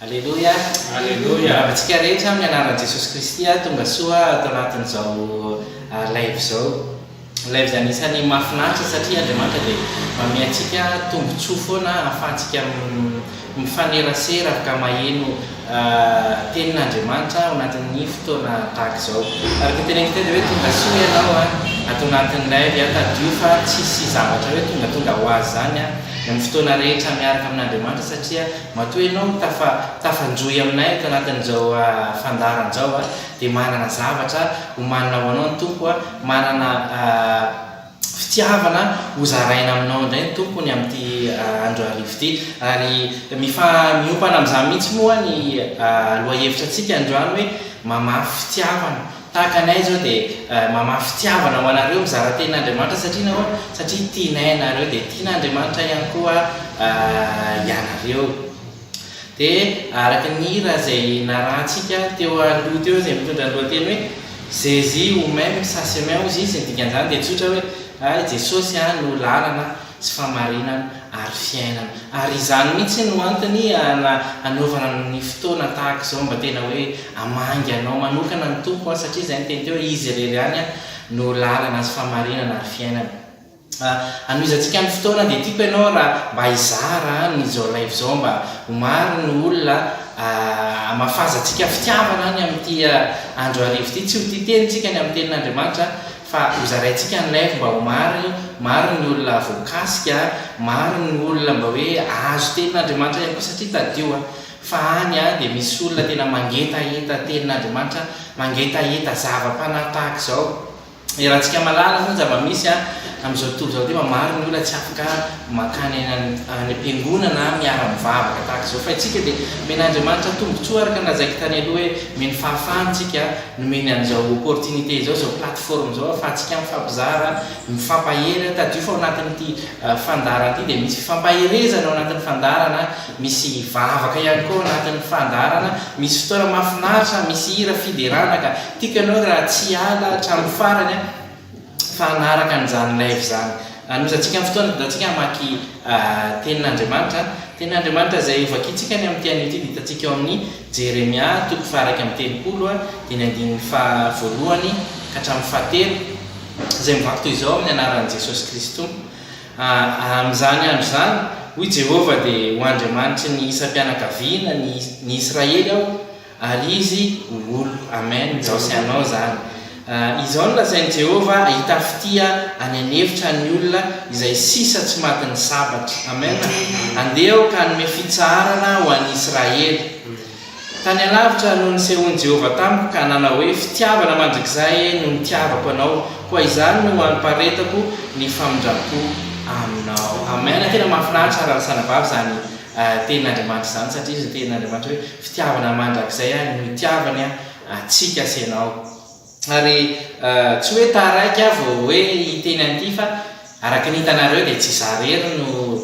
Aleloia! Aleloia! Miarahaba antsika rehetra amin'ny anaran'i Jesosy Kristy aho. Tongasoa ato anatin'izao live izao. Live izay anisan'ny mahafinaritra satria Andriamanitra dia manome antsika tombontsoa foana ahafahantsika Mifanerasera ka maheno tenin' Andriamanitra ao anatin' ny fotoana tahaka izao. Araka ny teneniko teo dia hoe tonga soa ianao ato anatin' ny live a, tadidio fa tsisy zavatra hoe tongatonga ho azy izany a, ny amin' ny fotoana rehetra miaraka amin' Andriamanitra satria matoa ianao tafa tafanjohy aminay ato anatin' izao fandaharana izao a dia manana zavatra homanina ho anao ny Tompo a, manana. Fitiavana ho zaraina aminao indray ny Tompo ny amin'ity andro arivo ity. Ary mifa-miompana amin'izany mihitsy moa ny lohahevitrantsika androany hoe mamafy fitiavana. Tahaka ny ahy izao dia mamafy fitiavana ho anareo mizara teny Andriamanitra satria nahoana? Satria tianay ianareo dia tian'Andriamanitra ihany koa ianareo. Dia araka ny hira izay narahantsika teo aloha teo izay mitondra ny lohateny hoe Zezi ou meme sa semen hozy izy, ny dikan'izany dia tsotra hoe a i Jesosy a no lalana sy famarinana ary fiainana. Ary izany mihitsy no antony ana anaovana ny fotoana tahaka izao mba tena hoe hamangy anao manokana ny Tompo a satria izay ny teny teo hoe izy irery ihany a no lalana sy famarinana ary fiainana. Hanohizantsika ny fotoana dia tiako ianao raha mba hizara an izao live izao mba ho maro ny olona hamafazantsika fitiavana an amin'ity andro hariva ity tsy ho tia teny isika ny amin'ny tenin'Andriamanitra an fa ho zaraintsika ny live mba ho maro maro ny olona voakasika an maro ny olona mba hoe hahazo tenin'Andriamanitra ihany koa satria tadidio an fa any an dia misy olona tena mangetaheta tenin'Andriamanitra an mangetaheta zava-panahy tahaka izao Iarahantsika mahalala zany zava-misy a, amin'izao tontolo izao nefa maro ny olona tsy afaka mankany any any am-piangonana miara-mivavaka tahaka izao. Fa isika dia omen'Andriamanitra tombontsoa araka ny lazaiko tany aloha hoe omeny fahafahana isika, nomeny an'izao opportunité izao, izao plateforme izao ahafahantsika mifampizara, mifampahery. Tadidio fa ao anatin'ity fandaharana ity dia misy fifampaherezana ao anatin'ny fandaharana, misy vavaka ihany koa ao anatin'ny fandaharana, misy fotoana mahafinaritra, misy hira fiderana ka. Tiako ianao raha tsy hiala hatramin'ny farany an! Fa hanaraka an'izany live izany. Hanomezantsika ny fotoana hitondratsika hamaky Tenin'Andriamanitra. Tenin'Andriamanitra izay hovakintsika ny amin'ity anio ity dia hitantsika ao amin'ny Jeremia toko faha-iraika amby telopolo, dia ny andininy faha-voalohany ka hatramin'ny faha-telo, izay mivaky toy izao, Amin'ny anaran'i Jesosy Kristy Tompo. Amin'izany andro izany, hoy Jehovah, dia ho Andriamanitry ny isam-pianakaviana, ny Israely, aho, Ary izy ho olo. Amen. Jaosy anao izany. Izao no lazain'i Jehovah, Hahita fitia any an'efitra ny olona izay sisa tsy matin'ny sabatra. Amen. Andeha aho ka hanome fitsaharana ho an'i Israely. Tany alavitra no nisehoan'i Jehovah tamiko ka nanao hoe, Fitiavana mandrakizay no nitiavako anao, koa izany no haniparitako ny famindram-po aminao. Amen. Tena mahafinaritra ary ahalasana vava izany tenin'Andriamanitra izany, satria izy no tenin'Andriamanitra hoe, Fitiavana mandrakizay aho no itiavany antsika sy ianao. Ary tsy hoe taraiky aho vao hoe hiteny an'ity fa araka ny hitanareo dia tsy izaho irery no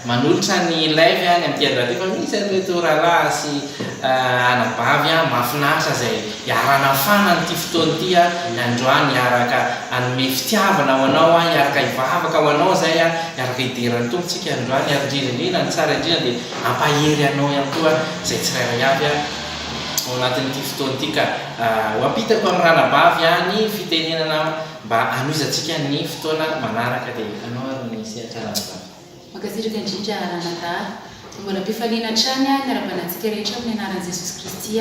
manolotra ny live any amin'ny TR Radio fa misy an'ireto rahalahy sy anabavy mahafinaritra izay hiara-hanafana an'ity fotoana ity androany, hiaraka hanome fitiavana ho anao, hiaraka hivavaka ho anao izay, hiaraka hidera ny Tompo tsika androany ary indrindra indrindra ny tsara indrindra dia Hampahery anao ihany koa izay tsirairay avy aho ao anatin'ity fotoana ity ka ho ampitako amin'ny ranabavy aho ny fitenenana mba hanohizantsika ny fotoana manaraka dia anao ary ny sehatra ranabavy. Mankasitraka indrindra Ranadahy. Mbola am-pifaliana hatrany ny hanaravana antsika rehetra amin'ny anaran'i Jesosy Kristy.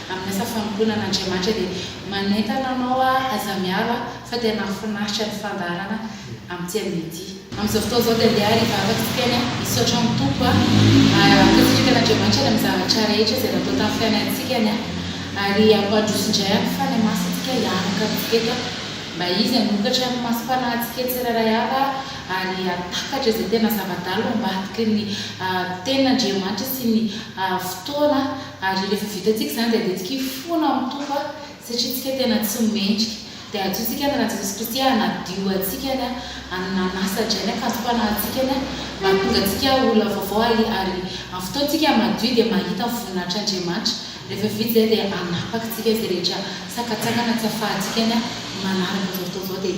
Amin'ny asa fanompoana an'Andriamanitra dia manentana anao aho aza miaro aho fa tena hahafinaritra ny fandaharana amin'ity anio ity. Amin'izao fotoana izao dia andeha ary hivavaka isika any aho, misaotra amin'ny Tompo aho ary ankasitraka an'Andriamanitra ny amin'ny zavatra rehetra izay natao tamin'ny fiainantsika any aho ary hampandroso indray amin'ny fanahy masintsika hiaraka amintsika eto aho mba izy hanokatra ny masom-panahintsika tsirairay avy aho ary hahatakatra izay tena zava-dalo ambadiky ny tenin'Andriamanitra sy ny fotoana Ary rehefa vitantsika izany dia andehantsika fona amin'ny Tompo satria isika tena tsy mendrika. Dia ajotsika ny ran'i Jesosy Kristy hanadio antsika ny amin'ny nanasa-dray ny ankantom-panahintsika ny mba hahatonga antsika olona vaovao ary amin'ny fotoantsika madio dia mahita ny voninahitr'Andriamanitra. Rehefa vita izay dia hanapaka antsika izay rehetra sakantsakana tsy ahafahantsika ny manaraka izao fotoana izao dia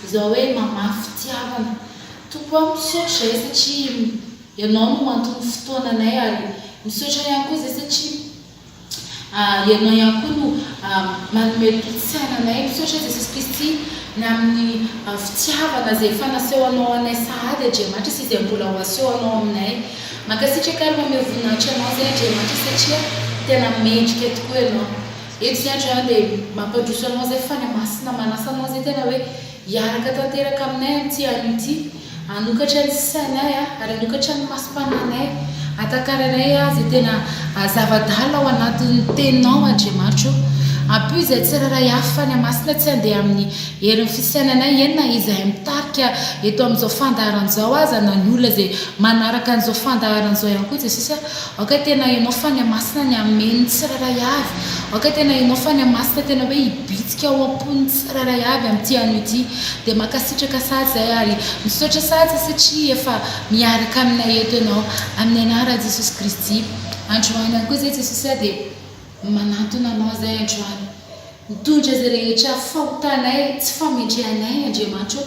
Izao hoe mamaha fitiavana. Tompo aho misaotra izay satria Ianao no anton'ny fotoananay ary misaotra ihany koa izay satria Ianao ihany koa no manome tolo-tsaina anay. Misaotra Jesosy Kristy ny amin'ny fitiavana izay efa nasehonao anay sahady Andriamanitra sy izay mbola ho asehonao aminay. Mankasitraka ary mameho voninahitra Anao izay Andriamanitra satria tena mendrika tokoa Ianao. Eto ny Adjoint dia mampandroso anao izay fa ny Masina manasa anao izay tena hoe hiaraka tanteraka aminay amin'ity anio ity, hanokatra ny sainay ary hanokatra ny masom-pananay, hatakarainay izay tena zava-dalina ao anatin'ny Teninao Andriamanitro. Ampio izay tsirairay avy fa ny Masina tsy handeha amin'ny herin'ny fisainanay eny na izahay mitarika eto amin'izao fandaharana izao aza na ny olona izay manaraka an'izao fandaharana izao ihany koa Jesosy a. Aoka tena ianao Fania Masina ny hamehy ny tsirairay avy. Aoka tena ianao Fania Masina tena hoe hibitsika ao am-pon'ny tsirairay avy amin'ity anio ity. Dia mankasitraka sazy zahay ary misaotra sazy satria efa miaraka aminay eto ianao. Amin'ny anaran'i Jesosy Kristy. Androany ihany koa izay Jesosy a dia. Manantona Anao izahay androany. Mitondra izay rehetra fahotanay, tsy fahamendrehanay, Andriamanitra ô.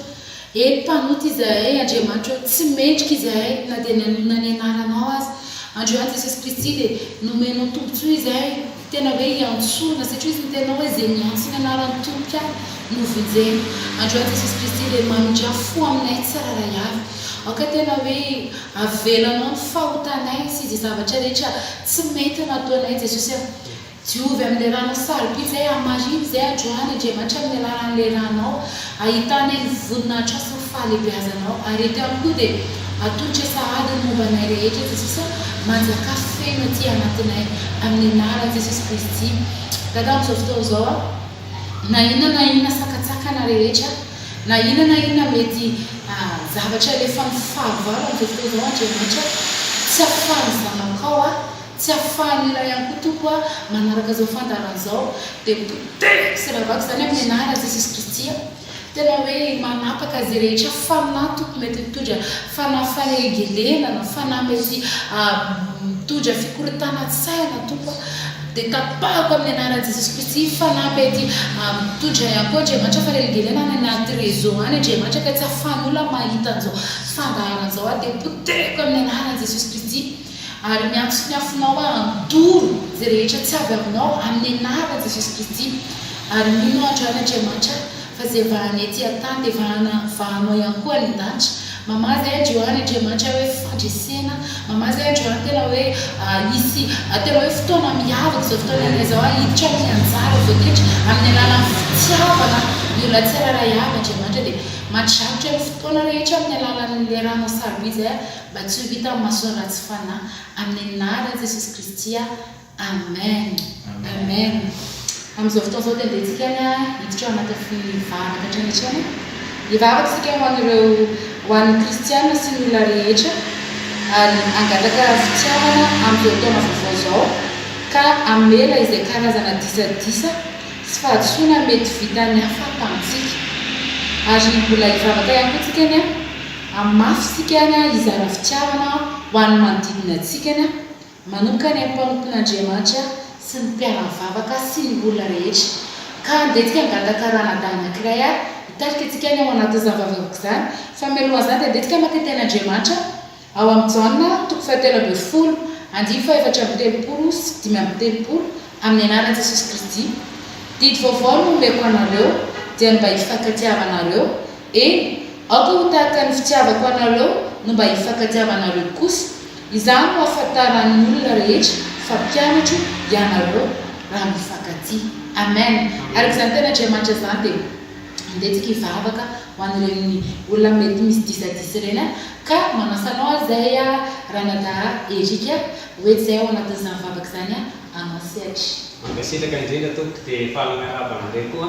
Eny, mpanota izahay, Andriamanitra ô, tsy mendrika izahay, na dia nanonona ny Anaranao aza. Androany Jesosy Kristy dia nomenao tombontsoa izahay, tena hoe iantsoana, satria hoy ny Teninao hoe izay miantso ny Anaran'ny Tompo aho no vonjeny. Androany Jesosy Kristy dia mamindrà fo aminay tsirairay avy. Aoka tena hoe. Avelanao ny fahotanay sy izay zavatra rehetra tsy mety nataonay Jesosy a! Diovy amin'ilay ranao sarobidy izay Hamarin'ny izay adroany Andriamanitra amin'ny alalan'ilay ranao Hahitanay ny voninahitrao sy ny fahalebiazanao Ary eto ihany koa dia atolotra sahady ny momba anay rehetra Jesosy a! Manjakà feno aty anatinay Amin'ny anaran'i Jesosy Kristy Dada amin'izao fotoana izao a! na inona na inona sakantsakana rehetra, na inona na inona mety zavatra alefan'ny fahavalo amin'izao fotoana izao Andriamanitra, tsy afahan'ny zanakao aho, tsy afahan'ny iray ihany koa Tompo aho manaraka izao fandaharana izao, dia potehiko sy ravako izany amin'ny anaran'i Jesosy Kristy aho. Tena hoe manapaka izay rehetra fanahy toko mety mitondra fanahy fanelingelena na fanahy mety mitondra fikorontanan-tsaina toko a. Dia tapahako amin'ny anaran'i Jesosy Kristy fanahy mety mitondra ihany koa Andriamanitra fanelingelena any anaty réseau any Andriamanitra ka tsy ahafan'ny olona mahita an'izao fandaharana izao aho dia potehiko amin'ny anaran'i Jesosy Kristy. Ary miantso ny afonao aho handoro izay rehetra tsy avy aminao amin'ny anaran'i Jesosy Kristy. Ary mino aho androany Andriamanitra fa izay vahana ety an-tany dia vahana vahanao ihany koa any an-danitra. Mamaha izay androany Andriamanitra hoe fandresena. Mamaha izay androany tena hoe hisy tena hoe fotoana miavaka izao fotoana iainana izao hahiditra amin'ny anjara izao tendry amin'ny alalan'ny fitiavana ny olona tsirairay avy Andriamanitra dia mandrakotra ny fotoana rehetra amin'ny alalan'ilay ranao sarobidy izay Mba tsy ho hita amin'ny maso ratsy fanahy. Amin'ny anaran'i Jesosy Kristy aho. Amen! Amen! Amin'izao fotoana izao dia andehantsika any hiditra ao anatin'ny fivavaka hatrany hatrany e. Hivavaka isika ho an'ireo, ho an'ny kristiana sy ny olona rehetra, ary hangataka fitiavana amin'izao taona vaovao izao, ka hamela izay karazana disadisa sy fahadisoana mety vitan'ny hafa tamintsika. Ary mbola hivavaka ihany koa isika anie. Hahamafy isika ny hizara fitiavana ho an'ny manodidina antsika ny manokana ny mpanompon'Andriamanitra sy ny mpiara-mivavaka sy ny olona rehetra. Ka handresy hangataka ranadahy anankiray hitarika antsika ny ao anatin'izany vavavoka izany. Fa mialoha an'izany dia handresy hamaky ny Tenin'Andriamanitra ao amin'i Jaona toko fahatelo ambin'ny folo, andiany fahefatra amby telopolo sy dimy amby telopolo, Amin'ny anaran'i Jesosy Kristy, didy vaovao no omeko anareo, dia ny mba hifankatia havanareo, Eny, aoka ho tahaka ny fitiavako anareo no mba hifankatiavanareo kosa. Izany no hahafantaran'ny olona rehetra fa mpianatro ianareo, raha mifankatia. Amen! Araka izany teny Andriamanitra izany dia andeha tsika hivavaka ho an'ireny olona mety misy disadisa ireny aho ka manasa anao azay aho Ranadahy Eric a, ho eto izay ao anatin'izany vavaka izany aho anao sehatra. Mankasitraka indrindra tompoko dia faly miarahaba anareo koa.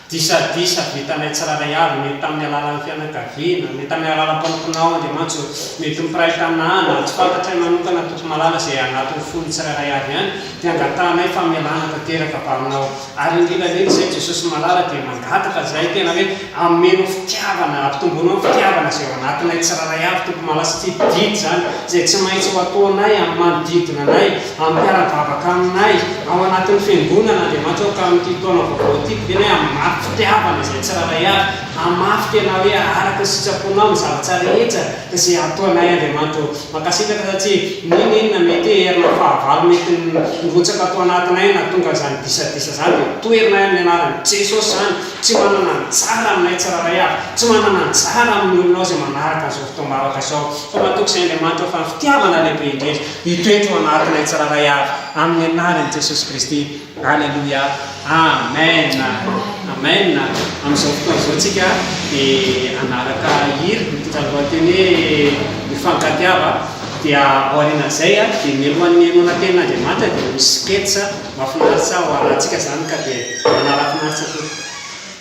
Disadisa vitanay tsirairay avy, mety tamin'ny alalan'ny fianakaviana, mety tamin'ny alalan'ny mpanomponao, Andriamanitso, mety ho mpiray tanàna, na tsy fantatray manokana, Tompo malala izay anatin'ny fon'ny tsirairay avy ihany, dia angatahanay famelana tanteraka avy Aminao. Ary indrindra indrindra izay, Jesosy malala, dia mangataka izahay tena hoe, ameno fitiavana, ampitomboanao ny fitiavana izay ao anatinay tsirairay avy, Tompo malala, satria didy izany, izay tsy maintsy ho ataonay amin'ny manodidina anay, Hampiara-bavaka aminay ao anatin'ny Fiangonana Andriamanitra ao ka amin'ity taona vaovao ity, didiana hoe hamafy fitiavana izay tsirairay avy, hamafy tena hoe araka ny sitraponao ny zavatra rehetra izay hataonay Andriamanitra ô. Mankasitraka satria n'inon'inona mety hoe herina fahavalo mety nirotsaka ato anatinay nahatonga izany disadisa izany dia toherina amin'ny anaran'i Jesosy izany, tsy manana anjara aminay tsirairay avy, tsy manana anjara amin'ny olona ao izay manaraka an'izao fotoam-bavaka izao fa matoky izay Andriamanitra fa ny fitiavana lehibe indrindra. Hitoetra ao anatinay tsirairay avy amin'ny anaran'i Jesosy Kristy. Aleloia. Amen. Amen. Amin'izao fotoana izao tsika dia hanaraka hira mitondra ny lohateny hoe Mifankatiava. Dia aorianan'izay dia mialohan'ny henoana tenin'Andriamanitra dia ho sketch mahafinaritra ho arahantsika izany ka dia manarafinaritra tompoko.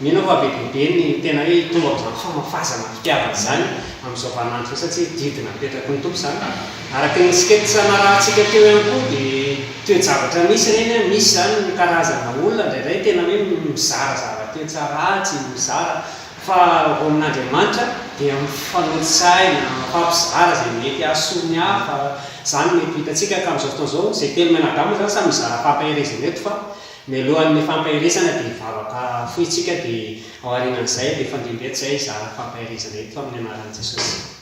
Mino aho fa be dia be ny tena hoe hitombo amin'izany famafazana ny fitiavana izany amin'izao vaninandro izao satria didy napetraky ny Tompo izany. Araka ny sketch narahantsika teo ihany koa dia toe-javatra misy ireny an, misy izany ny karazana olona indraindray tena hoe mizarazara toe-tsara ratsy, mizara fa ho amin'Andriamanitra dia mifanotsaina, mifampizara izay mety hahasoa ny hafa, izany mety ho hitantsika ka amin'izao fotoana izao izay telo men'Adama izany samy mizara fampaherezana eto fa Mialohan'ny fampaherezana dia vavaka fohy isika dia ao arinan'izay dia fandrindra eto izay hizara fampaherezana eto amin'ny anaran'i Jesosy.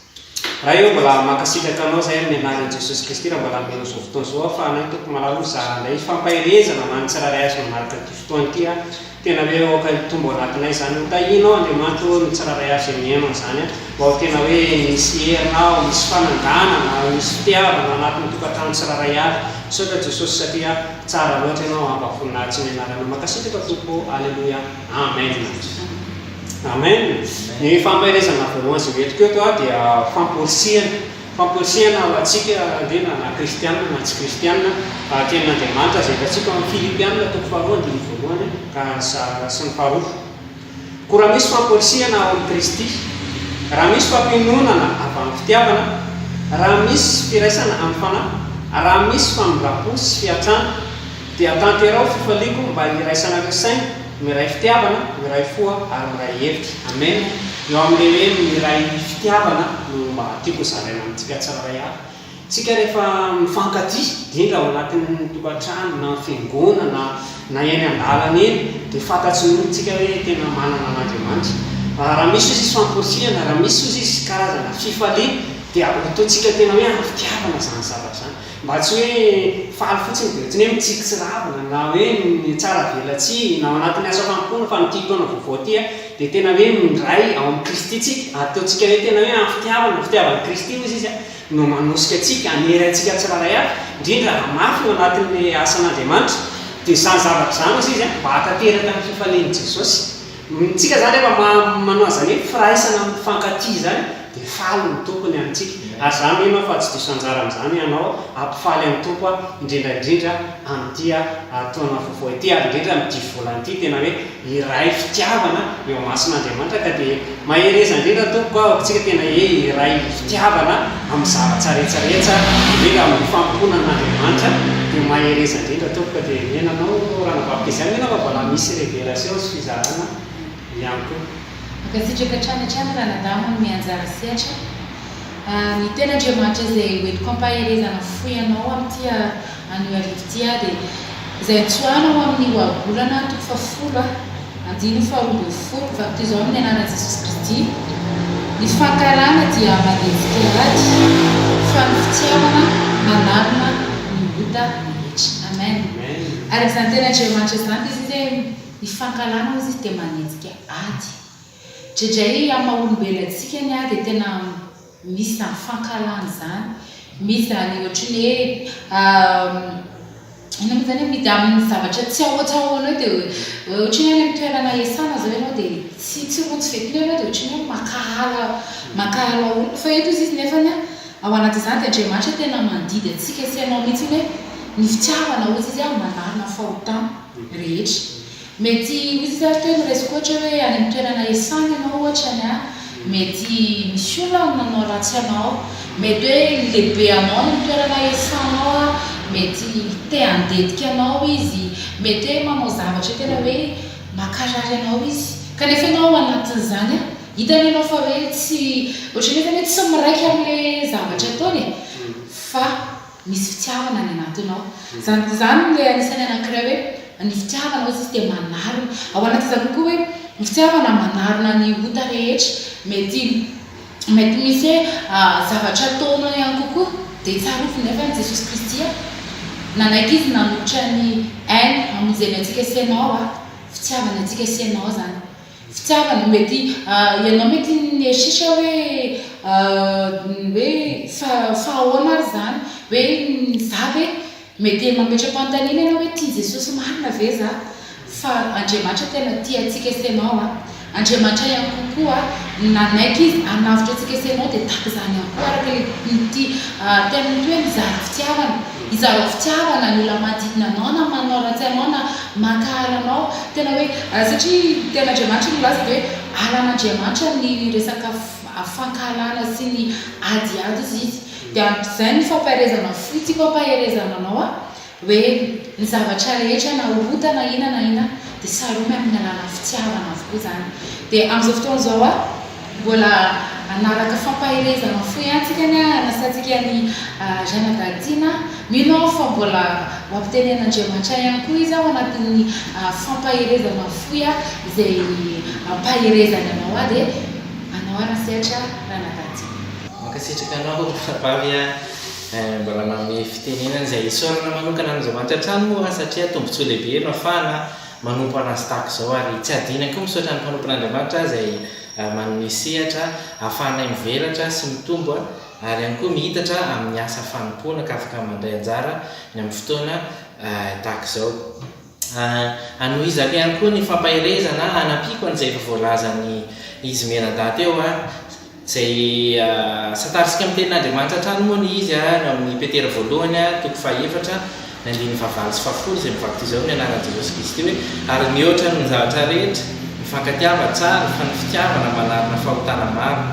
Ray ô mbola mankasitraka anao izay amin'ny anaran'i Jesosy Kristy raha mbola hanome an'izao fotoana izao aho fa anao Tompo malala o zara indray fampaherezana ho an'ny tsirairay azo manaraka an'ity fotoana ity a tena hoe aoka hitombo ao anatinay izany o tahinao Andriamanitra ô ny tsirairay avy izay mihaino an'izany a Vao tena hoe misy herina aho, misy fananganana, misy fitiavana anatin'ny tokantrano tsirairay avy. Misaotra Jesosy satria tsara loatra Ianao hampavoninahitsy ny Anarana. Mankasitraka Tompo ô. Aleloia. Amen. Amen. Ny fampaherezana voalohany izay hoentiko eto aho dia famporisihana. Famporisihana ho antsika ange na na kristiana na tsy kristiana. Tenin'Andriamanitra izay hitantsika ao amin'ny Filipiana toko faharoa andininy voalohany ka sy ny faharoa. Koa raha misy famporisihana ao amin'i Kristy, raha misy fampiononana avy amin'ny fitiavana, raha misy firaisana amin'ny fanahy, raha misy famindram-po sy fiantrana, dia tanterao fifaliako mba hiraisanareo saina, miray fitiavana, miray fo ary miray hevitra. Amena. Eo amin'ilay hoe miray fitiavana no mba tiako zaraina amintsika tsirairay avy. Tsika rehefa mifankatia, indrindra ao anatin'ny tokantrano na fiangonana na eny an-dalana eny dia fantatry ny olon-tsika hoe tena manana an'Andriamanitra. Raha misy ozy izy famporisihana, raha misy ozy izy karazana fifaliana dia ho tointsika tena hoe avy tiavana izany zavatra izany. Mba tsy hoe faly fotsiny dia ohatran'ny hoe mitsiritsirabona na hoe tsara velatsihy na ao anatin'ny asa fanompoana fa amin'ity taona vaovao ity a dia tena hoe mindray ao amin'i Kristy tsika, ataontsika hoe tena hoe avy tiavana, fitiavan'i Kristy ozy izy a. no manosika antsika hanery antsika tsirairay avy, indrindra raha mafy eo anatin'ny asan'Andriamanitra, dia izany zavatra izany hozy izy mba hahatanteraka ny fifalian'i Jesosy. Isika izany rehefa manao an'izany hoe firaisana mifankatia izany dia faly ny Tompo ny amintsika. Ary izaho mino aho fa tsy diso anjara amin'izany ianao hampifaly an'ny Tompo aho, indrindra indrindra amin'ity taona vaovao ity ary indrindra amin'ity volana ity, tena hoe. Iray fitiavana eo amasin'Andriamanitra ka dia mahereza indrindra Tompoko ah ohatsika tena he iray fitiavana amin'ny zavatra rehetra rehetra indrindra amin'ny fanompoana an'Andriamanitra dia mahereza indrindra Tompoko ka dia omena anao ora anabaviko izay mino aho fa mbola misy révélation sy fizarana ihany koa. Mankasitraka hatrany hatrany ranadahy manome anjara sehatra, ny ten'Andriamanitra izay hoentiko hampaherezana fohy anao amin'ity Anio arivo ity aho dia izay antsoina ho amin'ny ohabolana toko fahafolo a, andininy faharoa ambin'ny folo, vadiko izao amin'ny anaran'i Jesosy Kristy, ny fankarana dia mandevika ady, fa ny fitiavana manarona ny ota rehetra. Amen. Araka izany teny Andriamanitra izany dia izy hoe ny fankarana hozy dia manenjika ady. Dredray amin'ny maha olombelona antsika ny ady dia tena. Misy zany fankahalana izany, misy zany ohatry ny hoe inona moa zany e, misy amin'ny zavatra tsy ao an-tsahona ao dia ohatry ny hoe any amin'ny toerana iasana izao ianao dia tsy tsy rojo f'eto ianao dia ohatry ny hoe mankahala mankahala olona fa eto izy nefany an, ao anatin'izany dia Andriamanitra tena mandidy antsika sy anao mihitsy hoe ny fitiavana hozy izy an manala ny fahotana rehetra. Mety ho izy ve ary teo ny resiko ohatra hoe any amin'ny toerana hiasana ianao ohatra ny ahy mety misy olona any manao ratsy anao mety hoe ny lehibe anao any amin'ny toerana hiasanao ary mety te handetika anao izy mety hoe manao zavatra tena hoe mankarary anao izy kanefa ianao ao anatin'izany an hitany ianao fa hoe tsy ohatran'ny hoe tsy miraika amin'ilay zavatra ataony e fa misy fitiavana any anatinao. Izany izany ilay anisan'ny anankiray hoe ny fitiavana hoy izy dia manarona. Ao anatin'izany koa koa hoe ny fitiavana manarona ny ota rehetra. Mety mety misy hoe zavatra ataonao ihany kokoa dia tsarovy nefa an'i Jesosy Kristy a! Nanaiky Izy nanolotra ny ainy hamonjeny antsika sy ianao a! Fitiavany antsika sy ianao izany. Tsy tsara ny mety ah, ianao mety niheshish hoe hoe fa fa ahoana ary izany? hoe za ve mety mametra-panontaniana ianao hoe tia Jesosy marina ve za? fa Andriamanitra tena tia antsika sy ianao an! Andriamanitra ihany koa koa nanaiky Izy hanavotra antsika sy ianao dia tahaka izany ihany koa araka ilay mity teny mety hoe mizara fitiavana, izarao fitiavana ny olona manodidina anao na manao ratsy anao na. Mankahala anao. Tena hoe, satria ny tenin'Andriamanitra no milaza dia hoe halan'Andriamanitra ny resaka fankahalana sy ny adiady hozy izy. Dia ampy izay ny fampaherezana fo tiako hampaherezana anao aho, hoe ny zavatra rehetra na ota na inona na inona dia saromy amin'ny alalan'ny fitiavana avokoa izany. Dia amin'izao fotoana izao aho. Mbola hanaraka fampaherezana fo ihany tsika anie hanasantsika an'i Janadahy Tiana. Mino aho fa mbola ho ampitenenin'Andriamanitra ihany koa izy ao anatin'ny fampaherezana fohy izay ampaherezany anao aho dia anao ary ny sehatra Ranadahy Tiana. Mankasitraka anao Rabavy a, mbola manome fitenenana izay isaorana manokana an'Andriamanitra hatrany moa satria tombontsoa lehibe no afahana manompo an'Azy tahaka izao, ary tsy adinany koa misaotra ny mpanompon'Andriamanitra izay manome sehatra ahafahanay mivelatra sy mitombo ary ihany koa mihitatra amin'ny asa fanompoana ka afaka mandray anjara ny amin'ny fotoana tahaka izao. Hanohizako ihany koa ny fampaherezana hanampiako an'izay efa voalazan'i Izy mianadahy teo aho. Izay asantarisika amin'ny tenin'Andriamanitra hatrany moa ny izy, ary ao amin'ny Petera voalohany, toko fahaefatra, ny andininy fahavalo sy fahafolo, izay mivaky toy izao ny anaran'i Jesosy Kristy hoe, Ary mihoatra ny zavatra rehetra, mifankatiava tsara, fa ny fitiavana manarona fahotana maro.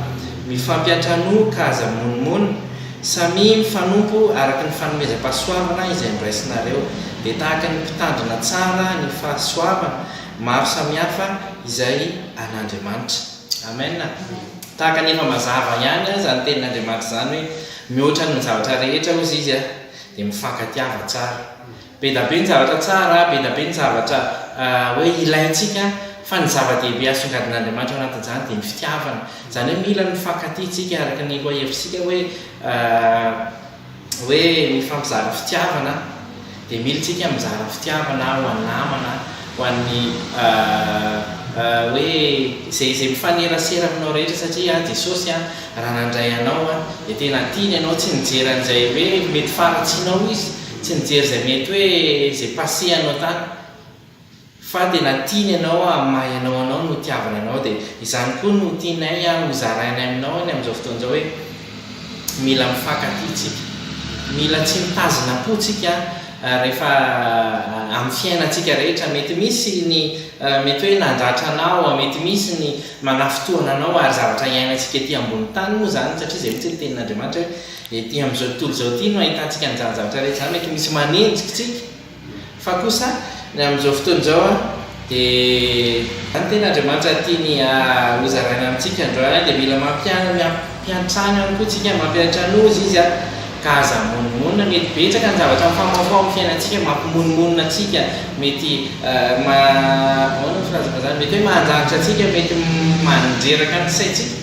Mifampiantranoa ka aza mimonomonona. Samia mifanompo araka ny fanomezam-pahasoavana izay noraisinareo. Dia tahaka ny mpitandrina tsara ny fahasoavana maro samihafa izay an'Andriamanitra. Amen! Tahaka ny efa mazava ihany aza ny tenin'Andriamanitra izany hoe mihoatra noho ny zavatra rehetra hozy Izy a! dia mifankatiava tsara. Be da be ny zavatra tsara, be da be ny zavatra hoe ilaintsika fa ny zava-dehibe asongadin'Andriamanitra ao anatin'izany dia ny fitiavana. Izany hoe mila ny mifankatia tsika araka ny loha hevitsika hoe hoe mifampizara fitiavana dia mila isika mizara fitiavana ho an'ny namana, ho an'ny hoe izay izay mifanerasera aminao rehetra satria Jesosy raha nandray anao dia tena tiany ianao tsy nijery an'izay hoe mety faharatsianao izy, tsy nijery izay mety hoe izay passé anao tany. Fa tena tiany anao ary mahay anao anao no tiaviny anao dia izany koa no tianay a ho zarainay aminao any amin'izao fotoana izao hoe mila mifankatia tsika mila tsy mitazona po tsika rehefa amin'ny fiainantsika rehetra mety misy ny mety hoe nandratra anao a mety misy ny manafintohina anao ary zavatra iainantsika ety ambony tany moa izany satria izay mitsy ny tenin'Andriamanitra hoe ety amin'izao tontolo izao ity no ahitantsika an'izany zavatra rehetra izany mety misy manenjika tsika Fa kosa ny amin'izao fotoana izao dia ny tena Andriamanitra tiany hozaraina amintsika androany dia mila mampiantrano ihany koa tsika, mampiantranozy Izy ka aza hamonomonona, mety betsaka ny zavatra mifamahofaho amin'ny fiainantsika mampimonomonona antsika, mety ahoana ny filazana izany, mety hoe mahanjagitra antsika, mety mandreraka ny saintsika,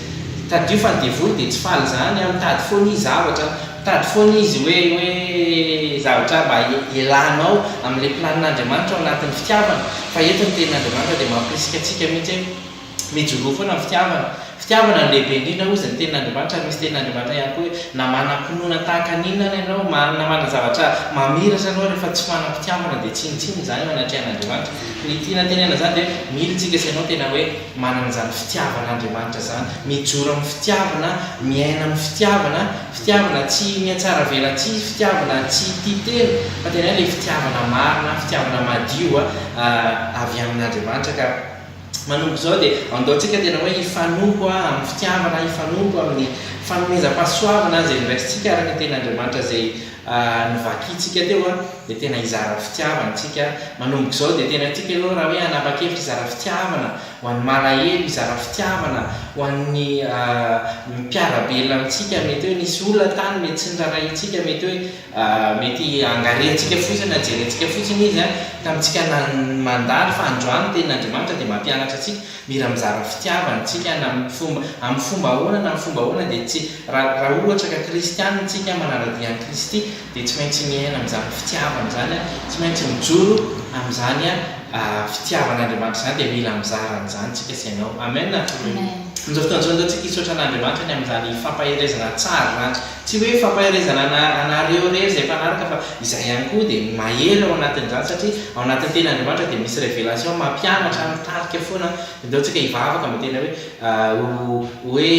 tadidio fa ny devoly dia tsy faly izany, mitady foana izy zavatra, Mitady foana izy hoe hoe zavatra mba hialanao amin'ilay planin'Andriamanitra ao anatin'ny fitiavana. Fa eto ny tenin'Andriamanitra dia mampirisika antsika mihitsy hoe mijoroa foana amin'ny fitiavana. Fitiavana no lehibe indrindra hozy ny tenin'Andriamanitra ary misy tenin'Andriamanitra ihany koa hoe na manam-pinoana tahaka ny inona ary ianao, na manana zavatra mamiratra ianao rehefa tsy manam-pitiavana dia tsinontsinona izany eo anatrehan'Andriamanitra. Ny tiana tenenana izany dia hoe mily tsika sy ianao tena hoe. Manana izany fitiavana Andriamanitra izany, mijoro amin'ny fitiavana, miaina amin'ny fitiavana, fitiavana tsy mihatsaravelatsihy, fitiavana tsy tia tena, fa tena hoe ilay fitiavana marina, fitiavana madio avy amin'Andriamanitra. Ka manomboka izao dia andaontsika tena hoe hifanompo amin'ny fitiavana, hifanompo amin'ny fanomezam-pahasoavana izay noraisintsika araka ny tenin'Andriamanitra izay. ny vakintsika teo dia tena hizara fitiavana isika manomboka izao dia tena tiako ianao raha hoe hanapa-kevitra hizara fitiavana ho an'ny malahelo hizara fitiavana ho an'ny mpiara-belona amintsika mety hoe nisy olona tany mety tsy norarahintsika mety hoe mety angarentsika fotsiny na jerentsika fotsiny izy tamintsika mandalo fa androany ny tenin'Andriamanitra dia mampianatra antsika Mira mizara fitiavana tsika na amin'ny fomba amin'ny fomba ahoana na amin'ny fomba ahoana dia tsy raha raha ohatra ka kristianina tsika manaradia an'i Kristy dia tsy maintsy miaina amin'izany fitiavana izany a tsy maintsy mijoro amin'izany a fitiavan'Andriamanitra izany dia mila mizara an'izany tsika sy ianao amen amin'izao fotoan'izao dia tsika hisaotra an'Andriamanitra ny amin'izany fampaherezana tsara izany Tsy hoe fampaherezana ana anareo irery izay mpanaraka fa izahay ihany koa dia mahery ao anatin'izany satria ao anatin'ny teny Andriamanitra dia misy révélation mampianatra mitarika foana ndao tsika hivavaka mba tena hoe ho hoe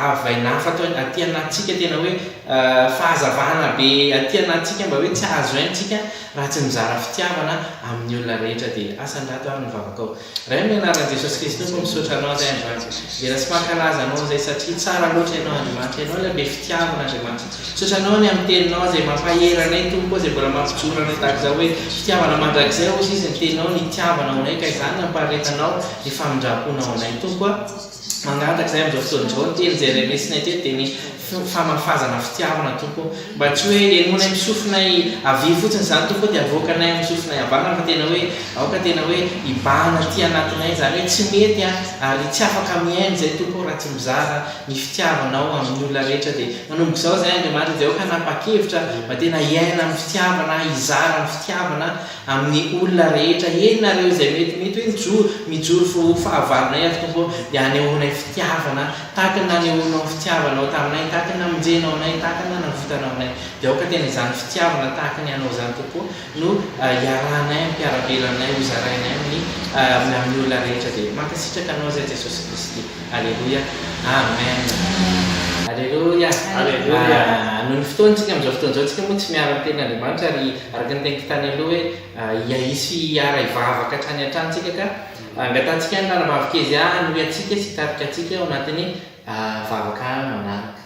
avy aina hafa ato aty anatintsika tena hoe fahazavana be aty anatintsika mba hoe tsy azo haintsika raha tsy mizara fitiavana amin'ny olona rehetra dia asa an-dRato ary ny vavakao Ray amin'ny anaran'i Jesosy Kristy Tompo misaotra Anao Ray androany Dera sy mankalaza Anao izay satria tsara loatra Ianao Andriamanitra Ianao ilay be fitiavana Andriamanitra misaotra Anao ny amin'ny Teninao izay mampahery anay Tompo ô izay mbola mampijoro anay tahaka izao hoe fitiavana mandrakizay ozy izy ny Teninao ny hitiavana ao anay ka izany ny ampariretanao ny famindramponao anay Tompo a Mangataka izahay amin'izao fotoana izao, niteny izay iray lesona teny dia ny famafazana fitiavana Tompo ô. Mba tsy hoe henoinay amin'ny sofinay havia fotsiny izany Tompo ô dia havoakanay amin'ny sofinay havanana fa tena hoe aoka tena hoe hibahana aty anatinay izany hoe tsy mety aho ary tsy afaka mihaino izay Tompo ô raha tsy mizara ny fitiavanao amin'ny olona rehetra dia manomboka izao izahay Andriamanitra dia aoka hanapa-kevitra mba tena hiaina amin'ny fitiavana hizara ny fitiavana Amin'ny olona rehetra henonareo izay mety mety hoe mijoro, mijoro fo ho fahavalonay aho, Tompo ô, dia hanehoanay fitiavana, tahaka ny nanehoanao ny fitiavanao taminay, tahaka ny namonjenao anay, tahaka ny nanavotanao anay. Dia aoka tena izany fitiavana tahaka ny anao izany, Tompo ô, no hiarahanay hampiara-bela anay, hozarainay amin'ny amin'ny olona rehetra dia. Mankasitraka anao izay Jesosy Kristy. Aleloia. Amen. Aleloia. Aleloia. Noho ny fotoana tsika amin'izao fotoana izao, tsika moa tsy miara-miteny Andriamanitra ary. Araka ny teniko tany aloha hoe hiahiso sy hiara hivavaka hatrany hatrany tsika ka angatahantsika ny Ranabavy Kezia hanohy antsika sy hitarika antsika ao anatin'ny vavaka manaraka.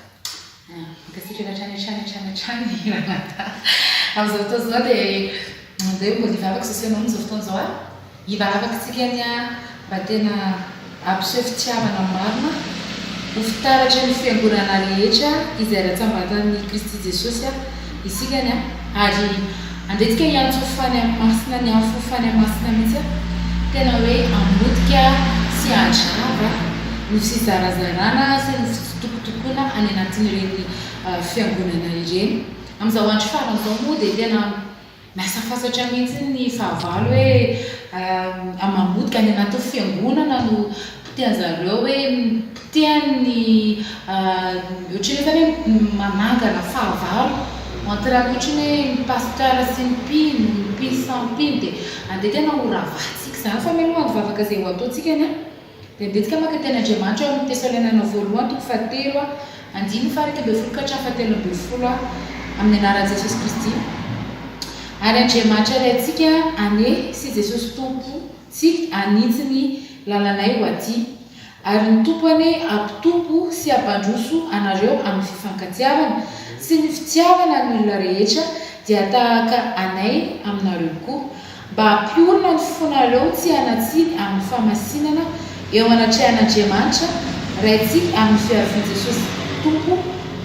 Mankasitraka hatrany hatrany hatrany hatrany Ranadahy. Amin'izao fotoana izao dia mandeha mody hivavaka sy hiseho aminao amin'izao fotoana izao aho. Hivavaka antsika anie an, mba tena hampiseho fitiavana marina ho fitaratry ny fiangonana rehetra izay ratsambatan'i Kristy Jesosy isika anie an, ary handretika hiantso fany amin'ny masina ny afo fany amin'ny masina mihitsy an, tena hoe hamotika sy hadrava ny fizarazarana sy ny fitsitokotokoana any anatin'ireny fiangonana ireny. Amin'izao andro farany izao moa dia tena. Lasa fantatra mihitsy ny fahavalo hoe Amam-bohoka any anatin'ny fiangonana no potehan-dry zareo hoe potehan' ny ohatran'ny hoe zany hoe manangana fahavalo entre ny ohatran'ny hoe ny pasteur sy ny mpino, ny mpino samy mpino dia andeha tena ho ravahantsika izany fa mialoha handovavaka izay ho ataontsika ny a. Dia betika maka teny Andriamanitra ao amin'ny Tesalonianina Voalohany toko fahatelo, andininy faha-iraika ambin'ny folo ka hatramin'ny fahatelo ambin'ny folo, Amin'ny anaran'i Jesosy Kristy ary Andriamanitra Ray antsika anie sy Jesosy Tompo tsy hanitsy ny lalanay ho aty, ary ny Tompo anie hampitompo sy hampandroso anareo amin'ny fifankatiavana sy ny fitiavana ny olona rehetra, dia tahaka anay aminareo koa, mba hampiorina ny fonareo tsy hanatsiny amin'ny famasinana eo anatrehan'Andriamanitra Raintsika amin'ny fiarovan' Jesosy Tompo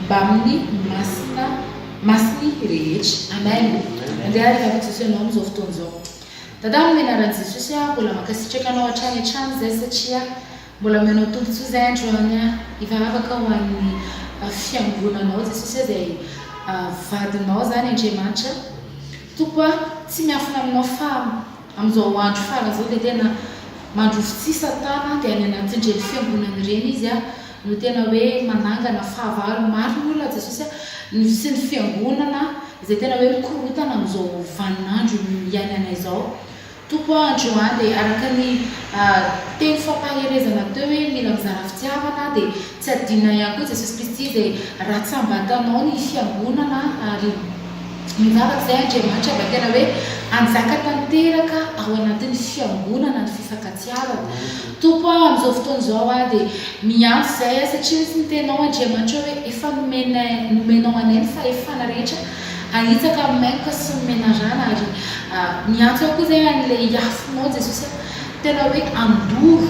mbamin'ny masina masiny rehetra. Amen. Andeha hariana ry Jesoa Ianao amin'izao fotoana izao. Dada amin'ny anaran'i Jesosy aho mbola mankasitraka Anao hatrany hatrany izay satria Mbola manao tombotsoa zay androany a! Hivavaka aho ho an'ny fiangonanao Jesosy a, zay vadinao zany Andriamanitra Tompo a! Tsy miafina aminao fa amin'izao andro farany zao dia tena mandroso tsihy Satana dia any anatin'ireny fiangonana ireny izy a! no tena hoe manangana fahavalo maro ny olona Jesosy a! ny sy ny fiangonana izay tena hoe mikorontana amin'izao vanin'andro iainana izao Tompo a, androany dia araka ny teny fampaherezana teo hoe mila mizara fitiavana dia tsy adinona ihany koa Jesosy Kristy izay ratsam-batanao ny fiangonana ary mivavak'izay Andriamanitra mba tena hoe hanjaka tanteraka ao anatin'ny fiangonana ny fifankatiavana Tompo a, amin'izao fotoana izao aho dia miantso izay satria misy ny tenao Andriamanitra hoe efa nomenay nomenao anay ny fahefana rehetra Ahitsaka amin'ny maître sy ny menarana ary miantso ahy koa zay an'ilay iafonao Jesosy a! Tena hoe andoro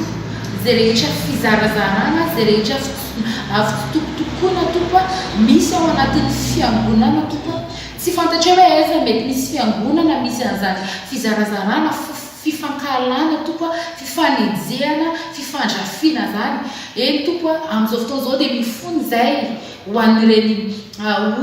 zay rehetra fizarazarana, zay rehetra fitokitokoana Tompo a! Misy ao anatin'ny fiangonana Tompo a! Tsy fantatrao hoe aiza no mety misy fiangonana misy an'izany fizarazarana, fifankahalana Tompo a! Fifanenjehana, fifandrafiana zany. Eny Tompo a! Amin'izao fotoana izao dia mifono izay Ho an'ireny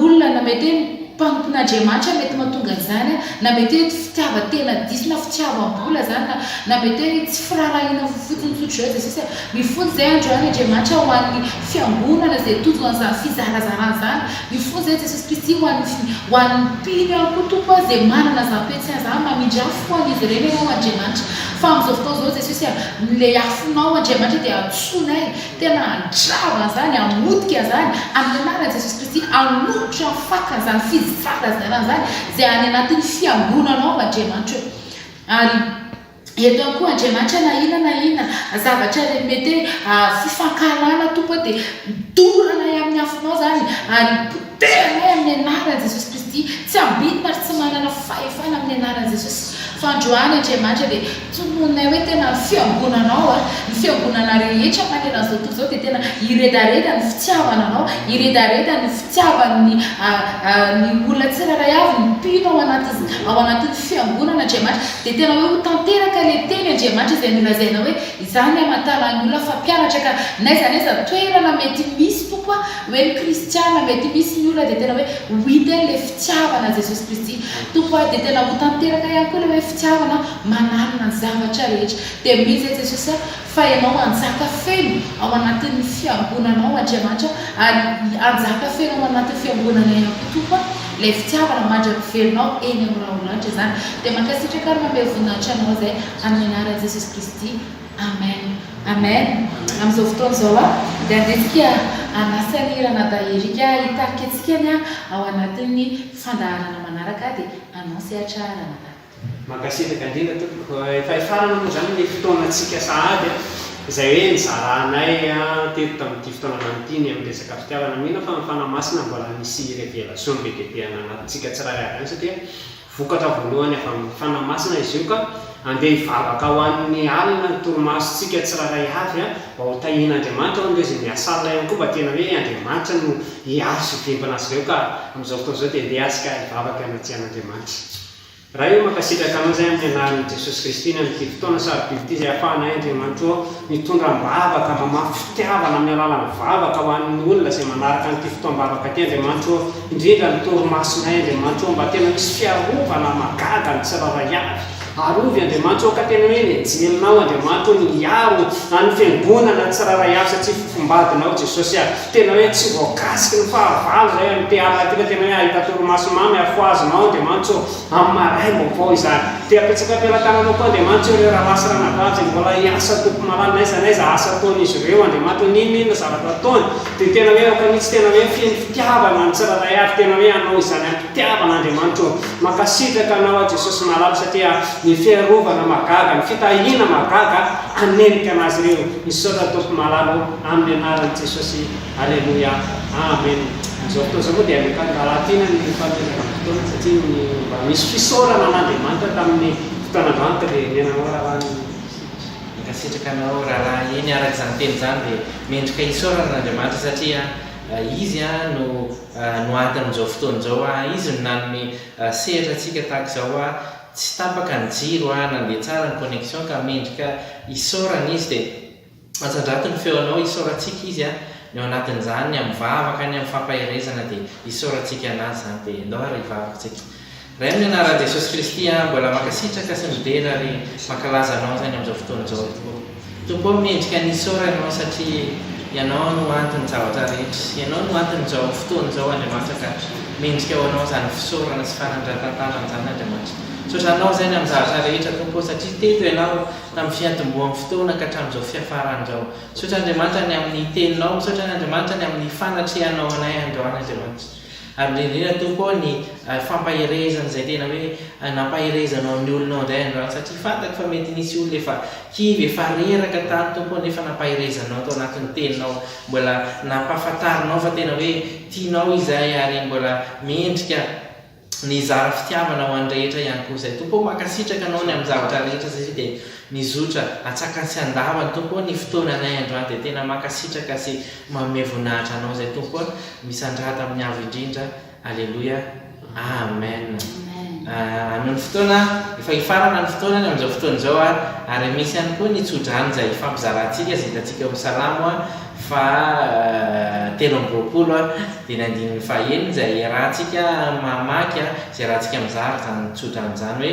olona na mety hoe mpanompon'Andriamanitra mety mahatonga an'izany na mety hoe tsy fitiavan-tena diso na fitiavam-bola izany na na mety hoe tsy firaharahiana fofotsiny tsotr'izao i Jesosy. Mifono izay androany Andriamanitra ho an'ny Fiangonana izay tojo an'izany fizarazarana izany. Mifono izay Jesosy Kristy ho an'ny ho an'ny mpino ihany koa Tompo a, izay manana izany toe-tsaina izany. Mamindra afo ho an'izy ireny Ianao Andriamanitra. Fa amin'izao fotoana izao Jesosy a, ilay afonao Andriamanitra dia antsoinay Tena handrava an'izany, hamotika an'izany amin'ny anaran'i Jesosy Kristy, hanolotra ny faka an'izany fivaraziana an'izany izay any anatin'ny fiangonanao ao Andriamanitra eo. Ary eto ihany koa Andriamanitra na inona na inona zavatra re mety hoe fifankahalana Tompo dia dorana any amin'ny afonao izany ary Tena hoe amin'ny anaran'i Jesosy Kristy, tsy ambinina ary tsy manana fahefana amin'ny anaran'i Jesosy. Fandroahany Andriamanitra dia tononinay hoe tena ny fiangonanao, ny fiangonana rehetra manerana izao tontolo izao dia tena hiredareda ny fitiavana anao, hiredareda ny fitiavan'ny ny olona tsirairay avy ny mpino ao anatin'ny ao anatin'ny fiangonana Andriamanitra, dia tena hoe ho tanteraka ilay teny Andriamanitra izay nolazainao hoe izaho ny amantaran'ny olona fa mpianatra ka n'aiza n'aiza toerana mety misy Tompo a, Ho an'ny kristiana mety misy ny olona dia tena hoe ho hita eny ilay fitiavana an'i Jesosy Kristy Tompo a, dia tena ho tanteraka ihany koa ilay hoe fitiavana mananona ny zavatra rehetra. Dia mino izay Jesosy a, fa Ianao hanjaka feno ao anatin'ny fiangonanao Andriamanitra, ary hanjaka feno ao anatin'ny fiangonanay ihany koa Tompo a, ilay fitiavana mandra pivelinao eny amin'ny rahonanitra izany. Dia mankasitraka ary manome voninahitra Anao izay, amin'ny anaran'i Jesosy Kristy. Amen Amen Amin'izao fotoana izao aho dia handrisika an'i Asani Ranadahy Eric hitarika antsika ny ao anatin'ny fandaharana manaraka dia anao sehatra Ranadahy. Mankasitraka indrindra tompoko. Efa hifarana moa izany ny fotoanantsika sahady izay hoe nizaranay teto tamin'ity fotoana lany ity ny amin'ny resaka fitiavana. Mino aho fa ny Fanahy Masina mbola misy révélation be dia be hananatontsika tsirairay avy any satria Vokatra voalohany avy amin'ny Fanahy Masina izy io ka andeha hivavaka ho an'ny alina ny torimasontsika tsirairay avy a, mba ho tahian'Andriamanitra ao ny raisin'i Miasala ihany koa mba tena hoe Andriamanitra no hiaro sy hivimbina azy ireo ka amin'izao fotoana izao dia andeha azy ka hivavaka hanatrehan'Andriamanitra. Ray o, mankasitraka anao izay amin'ny anaran'i Jesosy Kristy ny amin'ity fotoana sarobidy ity izay ahafahanay Andriamanitra ô mitondra am-bavaka, mamafy fitiavana amin'ny alalan'ny vavaka ho an'ny olona izay manaraka an'ity fotoam-bavaka ity Andriamanitra ô, Indrindra ny torimasonay Andriamanitro ô, mba tena misy fiarovana mahagaga ny tsirairay avy. Arovy Andriamanitro ô, ka tena hoe nejelinao Andriamanitro ô ny hiaro an'ny fiangonana tsirairay avy satria fofombadinao Jesosy a. Tena hoe tsy voakasiky ny fahavalo zay an'i Teala ty fa tena hoe ahita torimaso mamy ary fohazinao Andriamanitro ô, amin'ny maray vaovao izany. Dia apetsako am-pelatananao koa Andriamanitro ô ireo rahalahy sy ranabavy zay mbola hiasa tompom-alaly n'aiza n'aiza asa ataon'izy ireo Andriamanitro ô, n'inon'inona zavatra ataony, Dia tena hoe aoka mihitsy tena hoe feno fitiavana ny tsirairay ary tena hoe hanao izany am-pitiavana Andriamanitra ô! Mankasitraka Anao aho Jesosy Malala satria ny fiarovana mahagaga, ny fitahiana mahagaga hanenjika an'azy ireo. Misaotra Tompo Malala ô! Amin'ny Anaran'i Jesosy. Aleloia. Amen. Amin'izao fotoana izao moa dia alefan'ny rahalahy Tiana ny fanomezana ny fotoana satria ny mba misy fisaorana an'Andriamanitra tamin'ny fotoan'androany ka dia nenanao rahalahy ny sivy sy. Mankasitraka anao rahalahy, eny araka izany teny izany dia mendrika hisaorana an'Andriamanitra satria Izy no noanton'izao fotoana izao aho, Izy no nanome sehatra antsika tahaka izao aho, tsy tapaka ny jiro aho, nandeha tsara ny connexion ka mendrika hisaorana Izy dia antsandrato ny feonao, hisaorantsika Izy an, ny ao anatin'izany, ny amin'ny vavaka, ny amin'ny fampaherezana dia hisaorantsika an'Azy izany dia ndao ary hivavaka isika. Rainy ny anaran Jesosy Kristy a mbola mankasitraka sy midera ary mankalaza anao zany amzao fotoana zao tompo ô tompo ô mendrika ny hisaora ianao satria ianao no antony zavatra rehetra ianao no antony zao fotoana zao Andriamanitra ka mendrika ho anao zany fisaorana sy fanandratantanana zany Andriamanitra misaotra anao zany am zavatra rehetra tompo ô satria teto ianao tam fiantomboham fotoana ka tramzao fiafaran zao misaotra Andriamanitra ny aminy teninao misaotra ny Andriamanitra ny aminy fanatrehanao anay androany Andriamanitra. Ary indrindra indrindra Tompo ô ny fampaherezana izay tena hoe nampaherezanao ny olonao indray andro any satria fantako fa mety nisy olona efa kivy efa reraka tany Tompo ô nefa nampaherezanao tao anatin'ny teninao mbola nampahafantarinao fa tena hoe tianao izahay ary mbola mendrika ny hizara fitiavana ho an'ny rehetra ihany koa izay Tompo ô mankasitraka anao ny amin'ny zavatra rehetra satria dia Mizotra atsakany sy andavany Tompo ô ny fotoananay androany dia tena mankasitraka sy manome voninahitra Anao izay Tompo a! Misandrata amin'ny Avo indrindra Aleloia Amen Anony fotoana efa hifarana ny fotoana ny amin'izao fotoana izao a! Ary misy ihany koa ny tsodrano izay hifampizarantsika izay hitantsika eo amin'ny Salamo a faha telo amby roapolo a! dia ny andininy faha enina izay iarahantsika mamaky a! izay iarahantsika mizara izany tsodrano izany hoe